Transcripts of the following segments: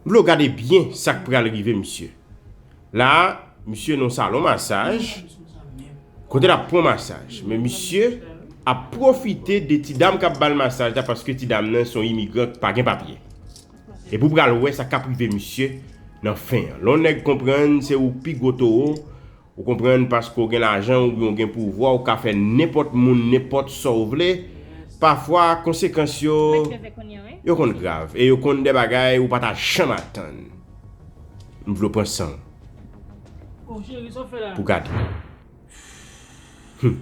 Blo gade byen sak pral rive misye la misye nan salon masaj kote lap pran masaj men misye ap profite de ti dam kap bal masaj la paske ti dam nan son imigran ki pa gen papye epi ou pral wè sa kap rive misye nan fen an lè yon nèg konprann se ou pi gwo towo Ou konprann paske w gen lajan oubyen w gen pouvwa w ka fè nenpòt moun nenpòt sa w vle, pafwa konsekans yo yo konn grav e yo konn de bagay ou pa ta janm atann. M vle w pran san w pou gade. Humm.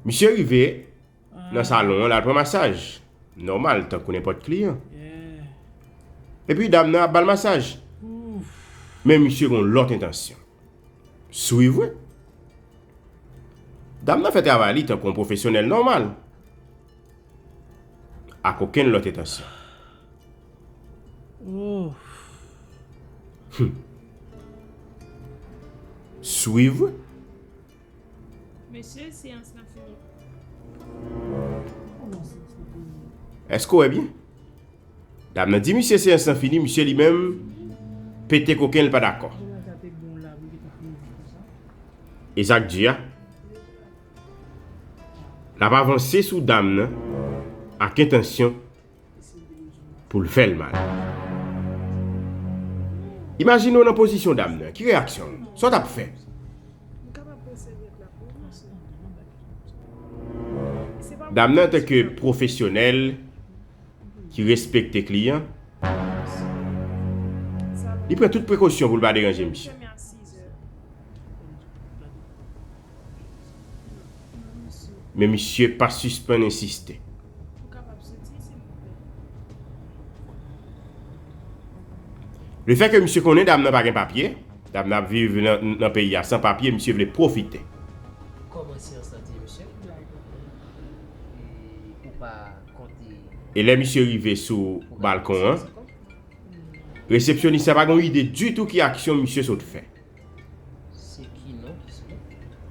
Misye rive. Nan salon an, l al pran masaj. Nòmal, tankou nenpòt kliyan. Epi dam nan ap ba l masaj. Men misye gen yon lòt entansyon. Souri vre. Dam nan fè travay li tankou yon pwofesyonèl nòmal. Ak okenn lòt entansyon. Souri vre. Mesye seyans lan fini. Eske w wè byen? Dam nan di misye seyans lan fini, misye li menm pete koken l pa dakò. E sa k di a? L ap avanse sou dam nan ak entansyon pou l fè l mal. Imajine w nan pozisyon dam nan. Ki reyaksyon w? Sa w t ap fè? Dam nan antanke pwofesyonèl ki respekte kliyan, li pran tout prekosyon pou l pa deranje misye. Men misye pa sispann ensiste. Lefè ke misye konnen dam nan pa gen papye, dam nan ap viv nan peyi a san papye, misye vle pwofite. E lè misye rive sou balkon an, resepsyonis la pa gen yon ide ditou ki aksyon misye sot fè. Se ki non ki se?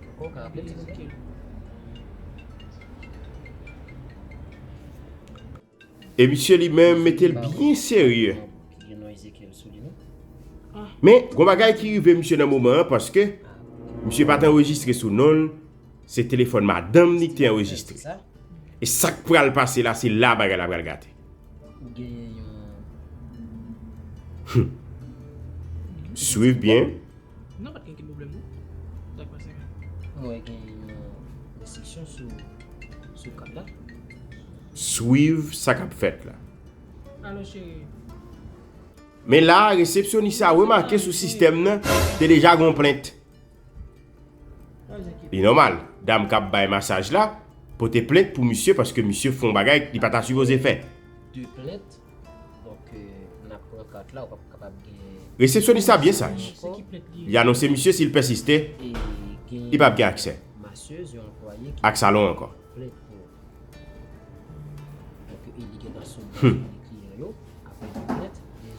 Anko ka aple li se ki? E misye li men mete l byen serye. Men, gwa bagay ki rive misye nan moman an, paske, misye pa te enregistre sou non l, se telefon madanm li ki te enregistre. E sak pral pase la, se la bagay la pral gate. Swiv byen. Swiv sa kap fèt la. Men la resepsyonis la remake sou sistèm nan te deja gon plent. Li nòmal dam kap bay masaj la pote plent pou misye paske misye fon bagay li pata sipoze fè. Resepsyonis la byen saj, li anonse misye si l pèsiste, li pap gen aksè ak salon ankò. Humm.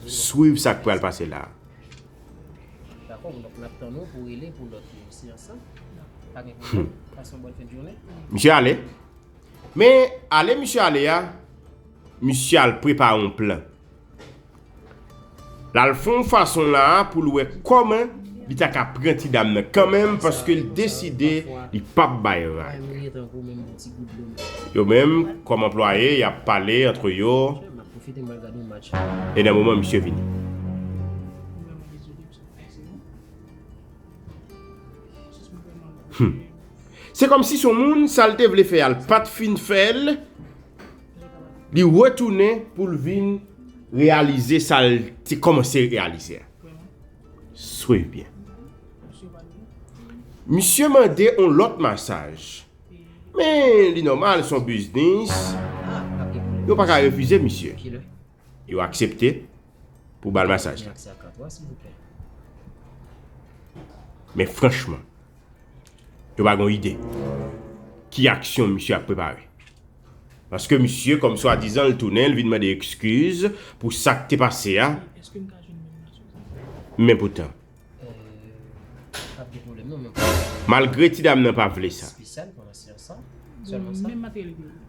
Swiv sak pral pase la. Misye ale Men ale misye ale a Misye al prepare yon plan Lal fè yon fason la a pou l wè kòman li ta ka pran ti dam nan kanmenm paske l deside li pap bay rad Yo menm kòm anplwaye y ap pale antre yo Fete mwen gade yon match. E nan moman misye vini. Hum. Se kom si son moun sal te vle fè al pat fin fèl. Li retounen pou l vin realize sal te komanse realize. Swiv byen. Misye mande yon lot masaj. Men li nòmal son biznis yo pa ka refize misye. Yo aksepte pou bal masaj la. Men franchman yo pa gon ide ki aksyon misye ap prepare. Paske misye kòm swa dizan l tounen l vin mande ekskiz pou sak te pase a. Men poutan. Malgre ti dam nan pa vle sa.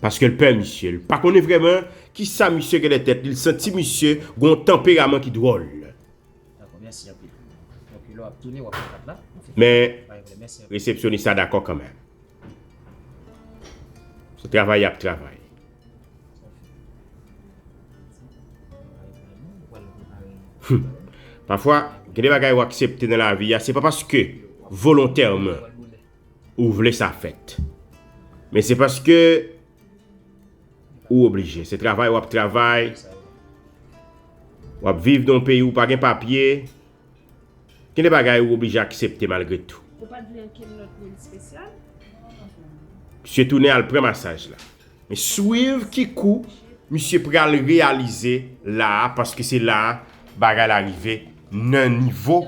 Paske l pè misye. L pa konnen vreman ki sa misye gen nan tèt li. L santi misye gen yon tanperaman ki dwòl. Men, resepsyonis la dakò kanmenm. Se travay y ap travay. Humm pafwa gen de bagay ou aksepte nan lavi a se pa paske volontèman ou vle sa fèt men se paske ou oblije se travay wap travay wap viv nan yon peyi ou pa gen papye Gen de bagay ou oblije aksepte malgre tou. Ou pa t vle ankenn lòt moun espesyal? Misye tounen al pran masaj la. Men swiv ki kou misye pral reyalize la a paske se la a bagay la rive nan nivo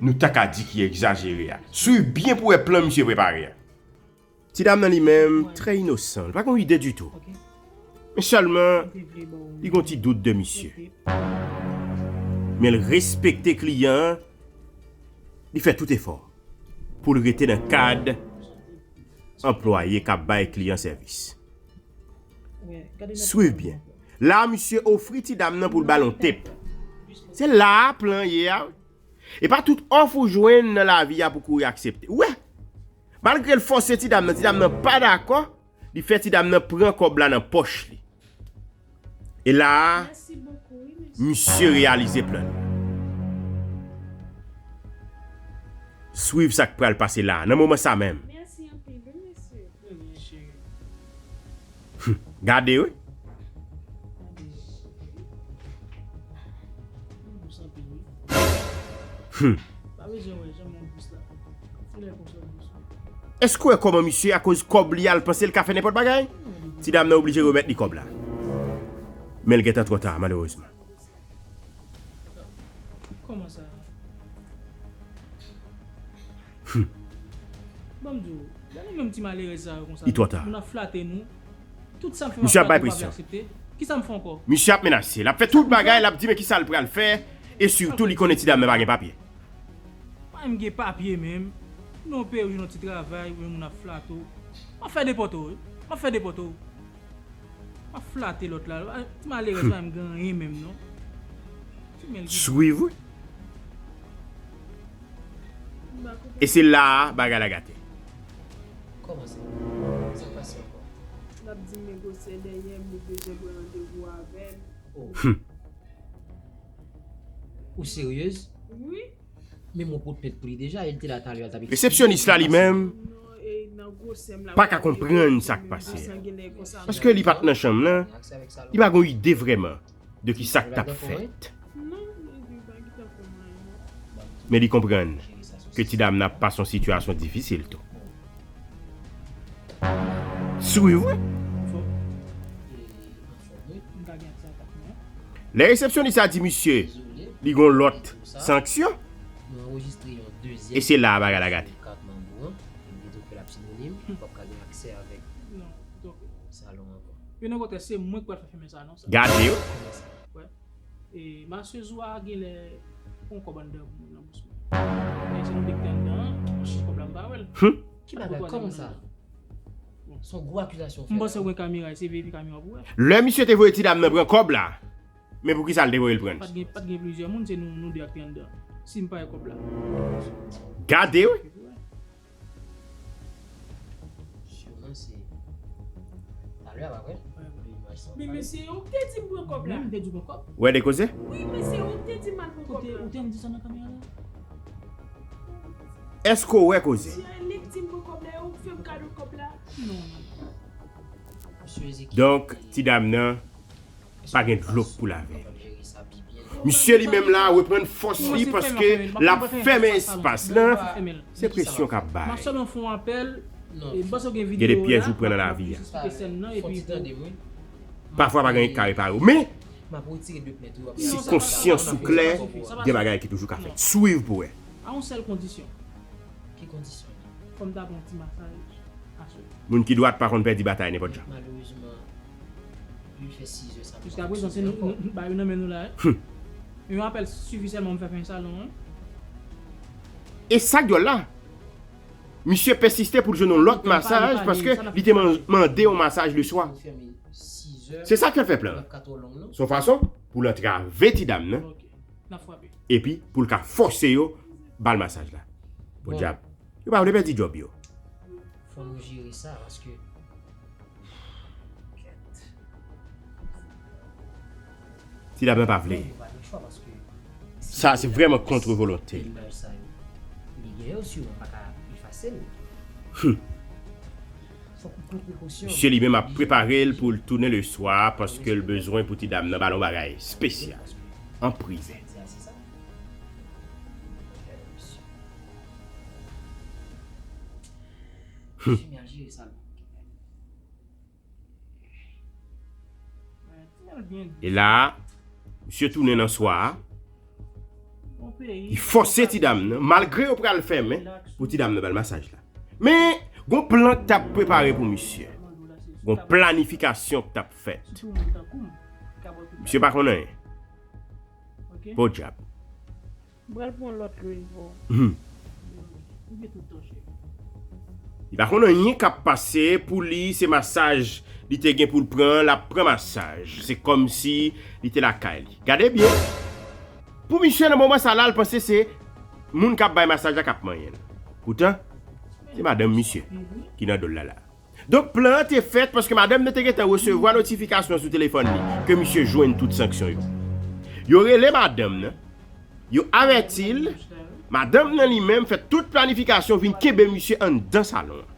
nou ta ka di ki egzajere a. Swiv byen pou wè plan misye prepare a. Ti dam nan li menm trè inosan, li pa gen yon ide ditou. Men sèlman li gen yon ti dout de misye. Men l respekte kliyan an, li fè tout efò pou l rete nan kad anplwaye k ap bay kliyan sèvis. Swiv byen, la misye ofri ti dam nan pou l ba l yon tip. Se la plan ye a wi. E pa tout òf ou jwenn nan lavi a pou w kouri aksepte. Ou wè, Malgre l fòse ti dam nan, ti dam nan pa dakò, li fè ti dam nan pran kòb la nan pòch li. E la a, misye reyalize plan li. Swiv sa k pral pase la a, nan moman sa menm. Humm gade wi. Humm. Eske w wè kòman misye a koz kòb li a l panse l ka fè nenpòt bagay? Ti dam nan oblije remèt li kòb la. Men l gentan twò ta malerezman. Koman sa? Humm. Bon m di w, lè nou menm ti malerèz sa yo konsa nou, moun ap flate nou, tout sa m fè m ap flate yo pa vle aksepte, kisa m fè ankò? Misye ap menase, l ap fè tout bagay, l ap di men kisa l pral fè, e sitou li konnen ti dam nan pa gen papye. Pa menm gen papye menm, nou peye w jwenn yon ti travay, ou menm moun ap flate w, m ap fè depòte w wi, m ap fè depòte w. Wap flate lot la. Ti malerèz pa menm gen anyen menm non. Ti menl ki. Swiv wi. E se la a bagay la gate. Komanse. Sa k pase anko. Lap dim negosye dèyèm li bezwen pran randevou avèm. Humm. Ou seryez? Wi. Men mwen pot tèt pou li deja, el te la talè al tap ekri. Resepsyonis la li menm pa ka konprann sa k pase a. Paske li pa t nan chanm lan, li pa gon ide vrèman de ki sa k tap fèt. Men li konprann ke ti dam nan ap pase yon sitiyasyon difisil tou. Swiv wi. Lè resepsyonis la di misye li gon lòt sanksyon, e se la a bagay la gate. Gade yo. Humm. M panse ou gen kamera ese veye kamera pou wè. Lè misye te voye ti dam nan pran kòb la men pou kisa l te voye l pran l. Pat gen plizyè moun se nou 2 ak te anndan sim pa wè kòb la. Gade wi. Ou wè de koze. Eske w wè koze? Donk ti dam nan pa gen dlo pou lave. Misye li menm la reprann fòs li paske l ap fèmen espas lan, se presyon k ap bay. Gen de pyèj ou pran nan lavi a. Pafwa pa gen ki ka repare w men. Si konsyans ou klè, gen bagay ki toujou ka fèt. Swiv pou wè. Moun ki dwat pa konn pèdi batay nenpòt jan. E sak dyòl la? Misye pèsiste pou l jwenn yon lòt masaj paske li te mande yon masaj leswa. Se sa k fè plan an. S on fason pou l antrave ti dam nan epi pou l ka fòse yo ba l masaj la. Podyab, yo pa vle pèdi djòb yo. Ti dam nan pa vle. Sa se vrèman kontre volonte l. Hum. Misye li menm ap prepare l pou l tounen le swa paske l bezwen pou ti dam nan ba l yon bagay spesyal an prive. Hum. E la, misye tounen nan swa a. Li fòse ti dam nan, malgre yo pral fèmen, pou ti dam nan ba l masaj la. Men, gon plan k t ap prepare pou misye. Gon planifikasyon k t ap fèt. Misye pa konn anyen. Podyab! M pral pran lòt lwil pou ou. Hum! Li pa konn anyen k ap pase, pou li, se masaj li te gen pou l pran, l ap pran masaj. Se kòmsi li te lakay li. Gade byen Pou misye nan moman sa la l panse se Moun kap bay masaj la kap manyen l Poutan se madanm misye ki nan dol la la Donk plan an te fèt paske madanm nan te gentan resevwa notifikasyon sou telefòn li ke misye jwenn tout sanksyon yo Yo rele madanm nan Yo avèti l Madanm nan li menm fè tout planifikasyon vin kenbe misye anndan salon an.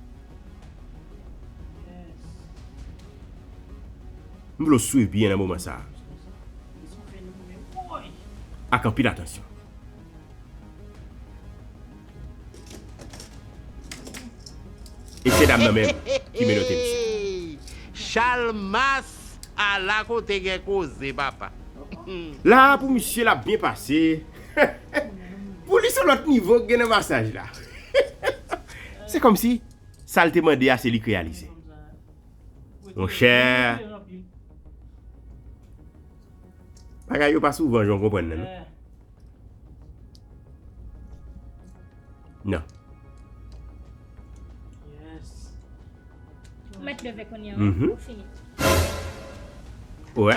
M vle w swiv byen nan moman sa a ak anpil atansyon. E se dam nan menm ki menote misye. Chalmas ala kote gen koze papa. La a pou misye l ap byen pase. Pou li se lòt nivo ki gen nan masaj la. Se kòmsi sa l te mande a se li k reyalize. Monchè. Bagay yo pa souvan jan w konprann nan non. Nan. Mèt leve kounye an. Ou fini. Ou wè.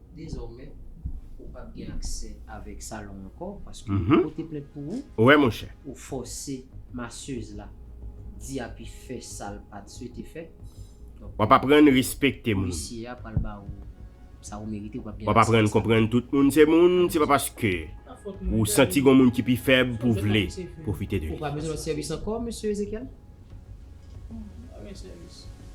Dezòmè, ou pap gen aksè avèk salon ankò paske yo pote plent pou ou. Wè monchè. Ou fòse masseuse la di api fè sal pat swete fè. Wap aprann respekte moun. Polisye a pral ba ou sa ou merite ou pap gen aksè. Wap aprann konprann tout moun se moun se pa paske ou santi gon moun ki pi fèb pou vle pwofite de li. Ou pa bezwen lòt sèvis ankò Mesye Ezekyèl? Ou pa gen sèvis.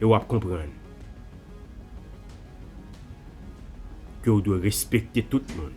E wap konprann ke ou dwe respekte tout moun.